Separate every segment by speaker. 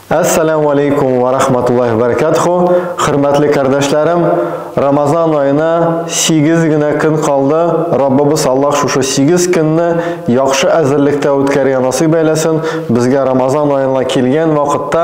Speaker 1: Ассаламу алейкум ва рахматуллахи ва баракатуху. Хөрмәтле кардәшләрем, Рамазан аена 8 генә көн калды. Раббыбыз Аллаһ шушы 8 көнне яхшы әзерлектә үткәргән насыйп әйләсен. Безгә Рамазан аена килгән вакытта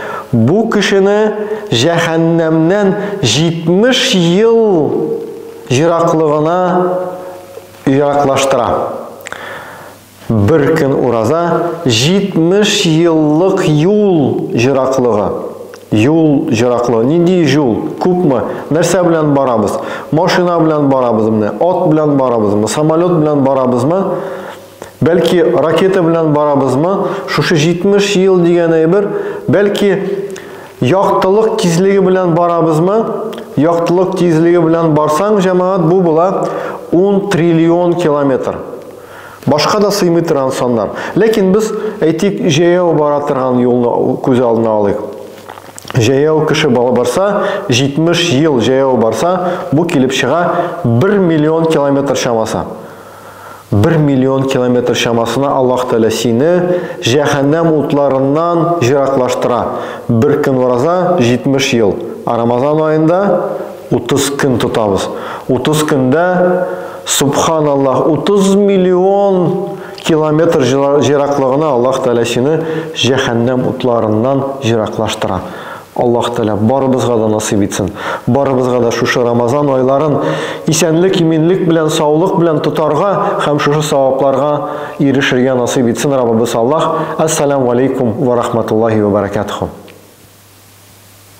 Speaker 1: Бу кешене җәһәннәмнән 70 ел ераклыгына ераклаштыра. Бер көн ураза 70 еллык юл ераклыгы. Юл ераклыгы. Нинди юл? Күпме? Нәрсә белән барабыз? Машина белән барабызмы? Ат белән барабызмы? Самолет белән барабызмы? Бәлки ракета белән барабызмы? Шушы 70 ел дигән әйбер, бәлки яктылык тизлеге белән барабызмы? Яктылык тизлеге белән барсаң, җәмәгать, бу була 10 триллион километр. Башка да сыймый торган саннар. Ләкин без, әйтик, җәяү бара торган юлны күз алдына алыйк. Җәяү кеше барса, 70 ел җәяү барса, бу килеп чыга 1 миллион километр чамасы. Бер миллион километр чамасына Аллаһ Тәгалә сине җәһәннәм утларыннан җыраклаштыра. Бер көн ураза, 70 ел. Ә Рамазан аенда 30 көн тотабыз. 30 көндә, субханаллаһ, 30 миллион километр җыраклыгына Аллаһ Тәгалә сине җәһәннәм утларыннан җыраклаштыра. Аллаһ Тәгалә барыбызга да насыйп итсен. Барыбызга да шушы Рамазан айларын исәнлек, иминлек белән, саулык белән тотарга һәм шушы савапларга ирешергә насыйп итсен Раббыбыз Аллаһ. Әссәләмү алейкум вә рахматуллаһи вә бәрәкәтүһү.